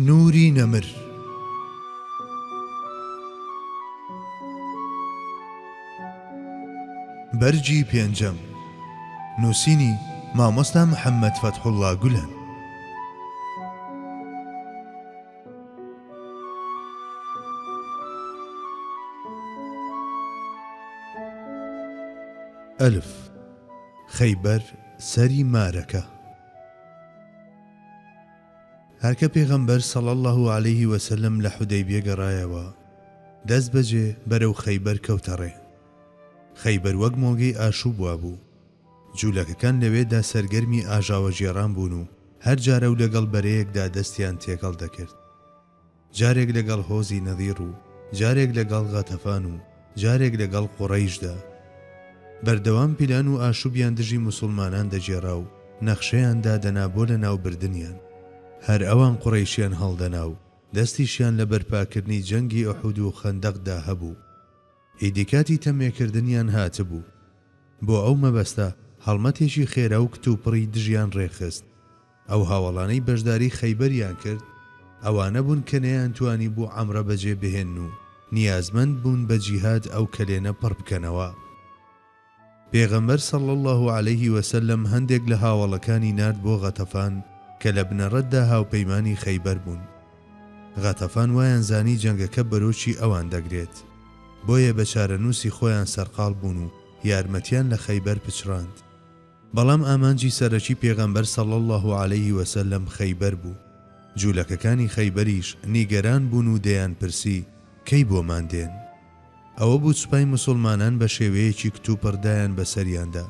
نوری نەمر بەرگی پێنجەم نووسینی مامۆستا محەممەد فەتحوڵا گولەن ئەلف خەیبەر سەری مارەکە هەرکە پێغەمبەر صلی اللە علیە وسلم لە حودەیبیە گەڕایەوە دەست بەجێ بەرەو خەیبەر کەوتە ڕێ. خەیبەر وەک مۆڵگەی ئاشوب وابوو. جولەکەکان لەوێدا سەرگەرمی ئاژاوەگێڕان بوون و هەر جارەو لەگەڵ بەرەیەکدا دەستیان تێکەڵ دەکرد. جارێک لەگەڵ هۆزی نەضیڕ و جارێک لەگەڵ غەتەفان و جارێک لەگەڵ قوڕەیشدا. بەردەوام پیلان و ئاشوبیان دژی موسوڵمانان دەگێڕا و نەخشەیان دادەنا بۆ لەناوبردنیان. هەر ئەوان قوڕەیشیان هەڵدەنا و دەستیشیان لە بەرپاکردنی جەنگی ئوحود و خەندەقدا هەبوو. ئیدی کاتی تەمێکردنیان هاتبوو. بۆ ئەو مەبەستە هەڵمەتێکی خێرا و کتوپڕی دژیان ڕێکخست. ئەو هاوەڵانەی بەشداری خەیبەریان کرد ئەوانە بوون کە نەیانتوانی بوو عەمرە بەجێ بهێنن و نیازمەند بوون بە جیهاد ئەو کەلێنە پڕ بکەنەوە. پێغەمبەر صلی اللە علیه وسلم هەندێک لە هاوەڵەکانی نارد بۆ غەتەفان کە لە بنەڕەتدا هاوپەیمانی خەیبەر بوون. غەتەفان وایان زانی جەنگەکە بەرۆکی ئەوان دەگرێت. بۆیە بە چارەنووسی خۆیان سەرقاڵ بوون و یارمەتیان لە خەیبەر پچڕاند. بەڵام ئامانجی سەرەکی پێغەمبەر صلی اللە علیە وسلم خەیبەر بوو، جولەکەکانی خەیبەریش نیگەران بوون و دەیان پرسی کەی بۆمان دێن؟ ئەوە بوو سوپای موسوڵمانان بە شێوەیەکی کتوپڕ دایان بەسەریاندا،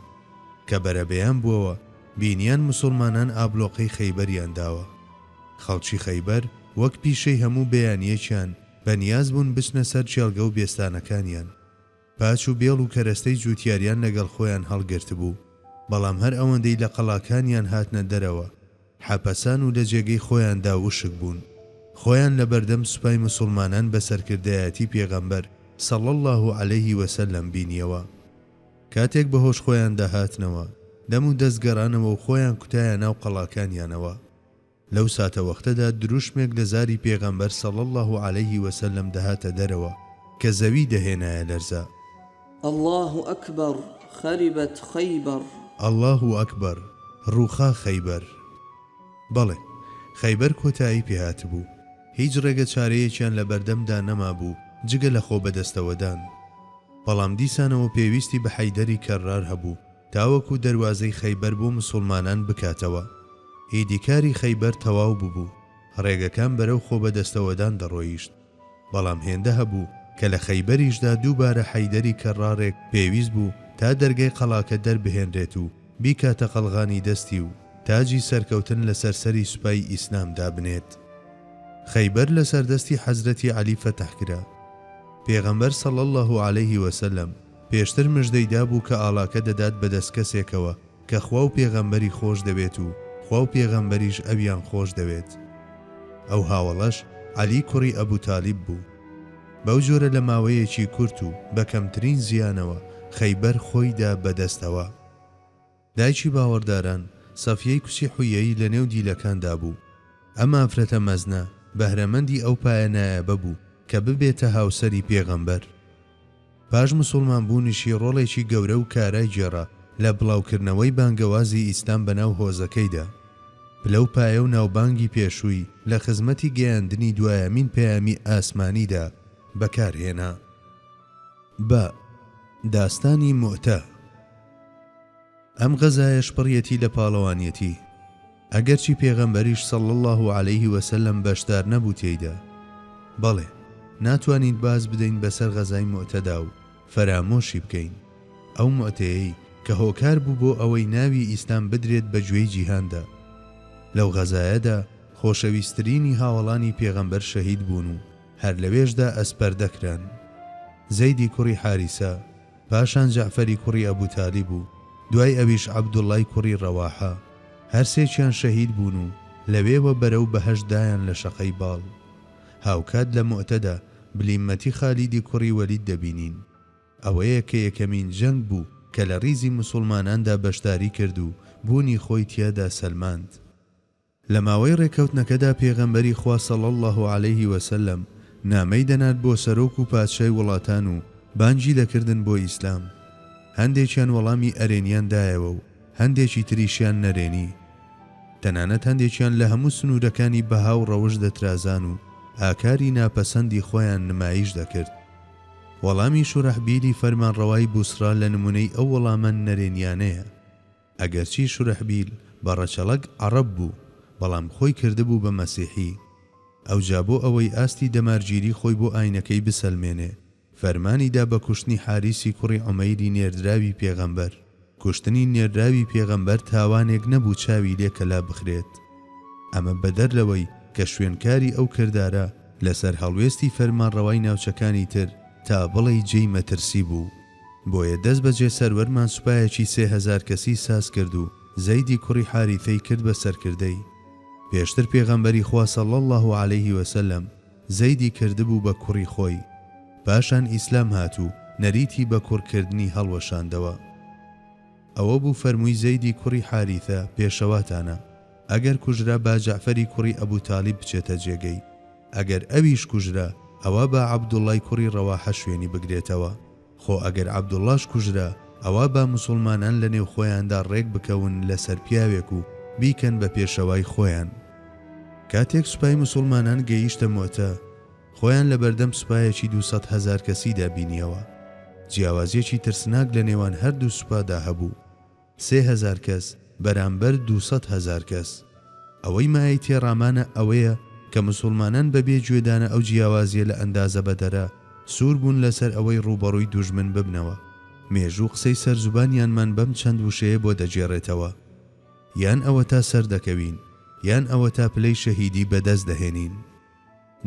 کە بەرەبەیان بووەوە بینیان موسوڵمانان ئابڵۆقەی خەیبەریان داوە. خەڵکی خەیبەر وەک پیشەی هەموو بەیانیەکیان بەنیاز بوون بچنە سەر کێڵگە و بێستانەکانیان. پاچ و بێڵ و کەرەستەی جووتیاریان لەگەڵ خۆیان هەڵگرتبوو، بەڵام هەر ئەوەندەی لە قەڵاکانیان هاتنە دەرەوە، حەپەسان و لە جێگەی خۆیاندا وشک بوون. خۆیان لە بەردەم سوپای مسوڵمانان بە سەرکردایەتی پێغەمبەر، صلی اللە علیه و سلم، بینیەوە. کاتێک بە هۆش خۆیاندا هاتنەوە، دەم و دەست گەڕانەوە و خۆیان کوتایە ناو قەڵاکانیانەوە. لەو ساتەوەختەدا دروشمێک لە زاری پێغەمبەر صلی اللە علیە وسلم دەهاتە دەرەوە کە زەوی دەهێنایە لەرزە. اللە اکبر خربت خیبر. اللە اکبر ڕووخا خەیبەر. بەڵێ، خەیبەر کۆتایی پێهاتبوو. هیچ ڕێگە چارەیەکیان لە بەردەمدا نەمابوو جگە لە خۆ بەدەستەوەدان. بەڵام دیسانەوە پێویستی بە حەیدەری کەررار هەبوو. تاوەکو دەروازەی خەیبەر بۆ مسوڵمانان بکاتەوە. ئیدی کاری خەیبەر تەواو ببوو، ڕێگەکان بەرەو خۆبەدەستەوەدان دەڕۆیشت. بەڵام هێندە هەبوو کە لە خەیبەریشدا دووبارە حەیدەری کەرڕاڕێک پێویست بوو تا دەرگای قەڵاکە دەربهێنرێت و بیکاتە قەڵغانی دەستی و تاجی سەرکەوتن لەسەر سەری سوپای ئیسلام دابنێت. خەیبەر لەسەر دەستی حەزرەتی عەلی فەتح کرا. پێغەمبەر صلی اللە علیه وسلم، پێشتر مژدەی دابوو کە ئاڵاکە دەدات بە دەست کەسێکەوە کە خوا و پێغەمبەری خۆش دەوێت و خوا و پێغەمبەریش ئەویان خۆش دەوێت. ئەو هاوەڵەش عەلی کوڕی ئەبو تالیب بوو. بەو جۆرە لە ماوەیەکی کورت و بە کەمترین زیانەوە خەیبەر خۆی دا بە دەستەوە. دایکی باوەڕداران، سەفیەی کچی حویەیی لەنێو دیلەکاندا بوو. ئەم ئافرەتە مەزنە، بەهرەمەندی ئەو پایە نایابە بوو کە ببێتە هاوسەری پێغەمبەر. پاش موسوڵمان بوونیشی ڕۆڵێکی گەورە و کارای گێڕا لە بڵاوکردنەوەی بانگەوازی ئیسلام بەناو هۆزەکەیدا. پلە و پایە و ناوبانگی پێشووی لە خزمەتی گەیاندنی دوایەمین پەیامی ئاسمانیدا بەکارهێنا. بە، داستانی موئتە، ئەم غەزایەش پڕیەتی لە پاڵەوانیەتی، ئەگەرچی پێغەمبەریش صلی اللە علیە وسلم بەشدار نەبوو تێیدا، بەڵێ ناتوانین باز بدەین بەسەر غەزای موئتەدا و فەرامۆشی بکەین، ئەو موئتەیەی کە هۆکار بوو بۆ ئەوەی ناوی ئیسلام بدرێت بە گوێی جیهاندا، لەو غەزایەدا خۆشەویسترینی هاوەڵانی پێغەمبەر شەهید بوون و هەر لەوێشدا ئەسپەردە کران، زەیدی کوڕی حاریسە، پاشان جەعفەری کوڕی ئەبو تالیب و دوای ئەویش عەبدوڵڵای کوڕی ڕەواحە، هەر سێکیان شەهید بوون و لەوێوە بەرەو بەهەشت دایان لە شەقەی باڵ. هاوکات لە موئتەدا بلیمەتی خالیدی کوڕی وەلید دەبینین. ئەوەیە کە یەکەمین جەنگ بوو کە لە ڕیزی موسوڵماناندا بەشداری کرد و بوونی خۆی تیادا سەلماند. لە ماوەی ڕێککەوتنەکەدا پێغەمبەری خوا صلی اللە علیه وسلم نامەی دەنارد بۆ سەرۆک و پادشای وڵاتان و بانگی دەکردن بۆ ئیسلام. هەندێکیان وەڵامی ئەرێنیان دایەوە و هەندێکی تریشیان نەرێنی. تەنانەت هەندێکیان لە هەموو سنوورەکانی بەها و ڕەوشت دەترازان و ئاکاری ناپەسەندی خۆیان نمایش دەکرد. وەڵامی شورەحبیلی فەرمانڕەوای بوسڕا لە نموونەی ئەو وەڵامە نەرێنیانەیە. ئەگەرچی شورەحبیل بە ڕەچەڵەک عەڕەب بوو، بەڵام خۆی کردبوو بە مەسیحی. ئەوجا بۆ ئەوەی ئاستی دەمارگیری خۆی بۆ ئاینەکەی بسەلمێنێ، فەرمانی دا بە کوشتنی حاریسی کوڕی عومەیری نێردراوی پێغەمبەر. کوشتنی نێردراوی پێغەمبەر تاوانێک نەبوو چاوی لێ کەلا بخرێت. ئەمە بەدەر لەوەی کە شوێنکاری ئەو کردارە لەسەر هەڵوێستی فەرمانڕەوای ناوچەکانی تر تا بڵێی جێی مەترسی بوو. بۆیە دەستبەجێ سەروەرمان سوپایەکی سێ هەزار کەسی ساز کرد و زەیدی کوڕی حاریثەی کرد بە سەرکردەی. پێشتر پێغەمبەری خوا صلی اللە علیه وسلم زەیدی کردبوو بە کوڕی خۆی، پاشان ئیسلام هات و نەریتی بە کوڕ کردنی هەڵوەشاندەوە. ئەوە بوو فەرمووی زەیدی کوڕی حاریثە پێشەواتانە، ئەگەر کوژرا با جەعفەری کوڕی ئەبو تالیب بچێتە جێگەی، ئەگەر ئەویش کوژرا ئەوا با عەبدوڵڵای کوڕی ڕەواحە شوێنی بگرێتەوە، خۆ ئەگەر عەبدوڵڵاش کوژرا ئەوا با موسوڵمانان لە نێو خۆیاندا ڕێک بکەون لە سەر پیاوێک و بیکەن بە پێشەوای خۆیان. کاتێک سوپای موسوڵمانان گەیشتە موئتە، خۆیان لە بەردەم سوپایەکی دوو سەد هەزار کەسیدا بینیەوە. جیاوازیەکی ترسناک لە نێوان هەردوو سوپادا هەبوو. سێ هەزار کەس بەرامبەر دوو سەد هەزار کەس. ئەوەی مایەی تێڕامانە ئەوەیە کە مسوڵمانان بە بێ گوێدانە ئەو جیاوازیە لە ئەندازە بەدەرە، سوور بوون لەسەر ئەوەی ڕووبەڕووی دوژمن ببنەوە. مێژوو قسەی سەر زوبانیانمان بەم چەند وشەیە بۆ دەگێڕێتەوە. یان ئەوەتا سەردەکەوین، یان ئەوەتا پلەی شەهیدی بەدەست دەهێنین.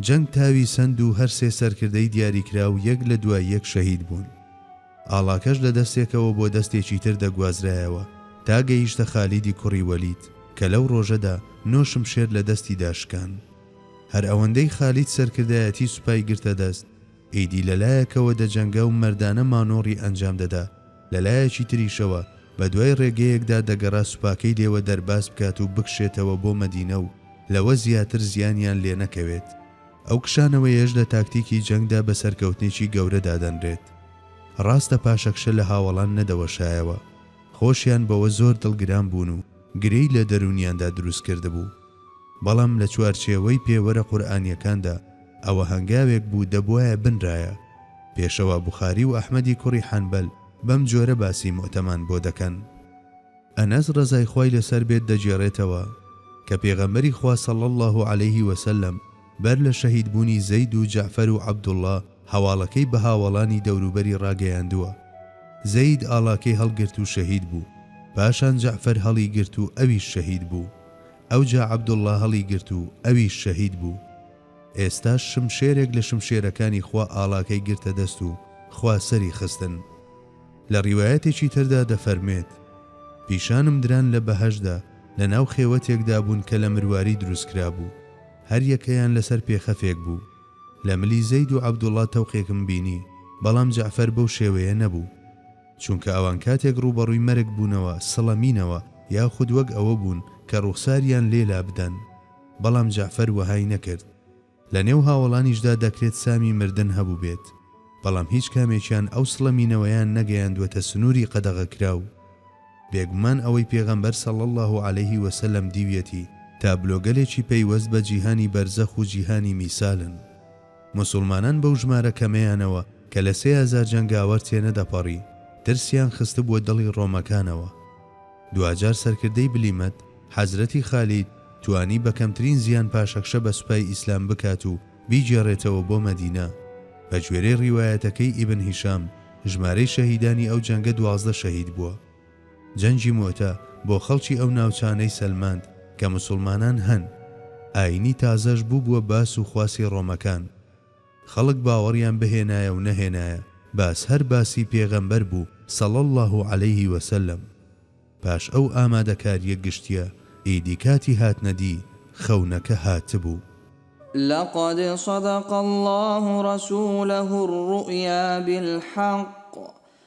جەنگ تاوی سەند و هەر سێ سەرکردەی دیاریکراو یەک لە دوای یەک شەهید بوون. ئاڵاکەش لە دەستێکەوە بۆ دەستێکی تر دەگوازرایەوە تا گەیشتە خالیدی کوڕی وەلید کە لەو ڕۆژەدا نۆ شمشێر لە دەستیدا شکان. هەر ئەوەندەی خالید سەرکردایەتی سوپای گرتە دەست، ئیدی لە لایەکەوە دەجەنگا و مەردانە مانۆڕی ئەنجام دەدا، لە لایەکی تریشەوە بە دوای ڕێگەیەکدا دەگەڕا سوپاکەی لێوە دەرباز بکات و بکشێتەوە بۆ مەدینە و لەوە زیاتر زیانیان لێ نەکەوێت. ئەو کشانەوەیەش لە تاکتیکی جەنگدا بە سەرکەوتنێکی گەورە دادەنرێت. ڕاستە پاشەکشە لە هاوەڵان نەدەوەشایەوە، خۆشیان بەوە زۆر دڵگران بوون و گرێی لە دەروونیاندا دروست کردبوو. بەڵام لە چوارچێوەی پێوەرە قورئانییەکاندا، ئەوە هەنگاوێک بوو دەبوایە بنرایە. پێشەوا بوخاری و ئەحمەدی کوڕی حەنبەل بەم جۆرە باسی موئتەمان بۆ دەکەن. ئەنەس ڕەزای خوای لەسەر بێت دەگێڕێتەوە، کە پێغەمبەری خوا صلی اللە علیه وسلم بەر لە شەهید بوونی زەید و جەعفەر و عەبدوڵڵا هەواڵەکەی بە هاوەڵانی دەوروبەری ڕاگەیاندووە. زەید ئاڵاکەی هەڵگرت و شەهید بوو. پاشان جەعفەر هەڵی گرت و ئەویش شەهید بوو. ئەوجا عەبدوڵڵا هەڵی گرت و ئەویش شەهید بوو. ئێستاش شمشێرێک لە شمشێرەکانی خوا ئاڵاکەی گرتە دەست و خوا سەری خستن. لە ڕیوایەتێکی تردا دەفەرموێت، پیشانم دران لە بەهەشتدا لە ناو خێوەتێکدا بوون کە لە مرواری دروست کرابوو، هەر یەکەیان لەسەر پێخەفێک بوو. لە ملی زەید و عەبدوڵڵا تەوقێکم بینی، بەڵام جەعفەر بەو شێوەیە نەبوو. چونکە ئەوان کاتێک ڕووبەڕووی مەرگ بوونەوە سڵەمینەوە یاخود وەک ئەوە بوون کە ڕووخساریان لێ لابدەن. بەڵام جەعفەر وەهای نەکرد. لە نێو هاوەڵانیشدا دەکرێت سامی مردن هەبووبێت، بەڵام هیچ کامێکیان ئەو سڵەمینەوەیان نەگەیاندووەتە سنووری قەدەغەکراو. بێگومان ئەوەی پێغەمبەر صلی اللە علیه وسلم دیویەتی تابلۆگەلێکی پەیوەست بە جیهانی بەرزەخ و جیهانی میسالن. موسوڵمانان بەو ژمارە کەمەیانەوە کە لە سێ هەزار جەنگاوەر تێنەدەپەڕی، ترسیان خستبووە دڵی ڕۆمەکانەوە. دواجار سەرکردەی بلیمەت، حەزرەتی خالید، توانی بە کەمترین زیان پاشەکشە بە سوپای ئیسلام بکات و بیگێڕێتەوە بۆ مەدینە. بە گوێرەی ڕیوایەتەکەی ئیبن هیشام، ژمارەی شەهیدانی ئەو جەنگە دوازدە شەهید بووە. جەنگی موئتە بۆ خەڵکی ئەو ناوچانەی سەلماند کە موسوڵمانان هەن. ئایینی تازەش بووبووە باس و خواسی ڕۆمەکان. خەڵک باوەڕیان بهێنایە و نەهێنایە باس هەر باسی پێغەمبەر بوو صلی اللە علیه و سلم. پاش ئەو ئامادەکاریە گشتیە ئیدی کاتی هاتنە دی خەونەکە هاتبوو. لقد صدق اللە رسولە الرؤیا بالحق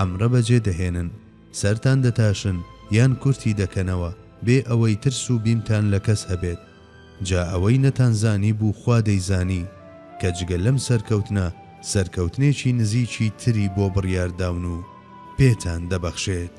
عەمرە بەجێ دەهێنن، سەرتان دەتاشن یان کورتی دەکەنەوە بێ ئەوەی ترس و بیمتان لە کەس هەبێت. جا ئەوەی نەتانزانیبوو خوا دەیزانی، کە جگە لەم سەرکەوتنە سەرکەوتنێکی نزیکی تری بۆ بڕیارداون و پێتان دەبەخشێت.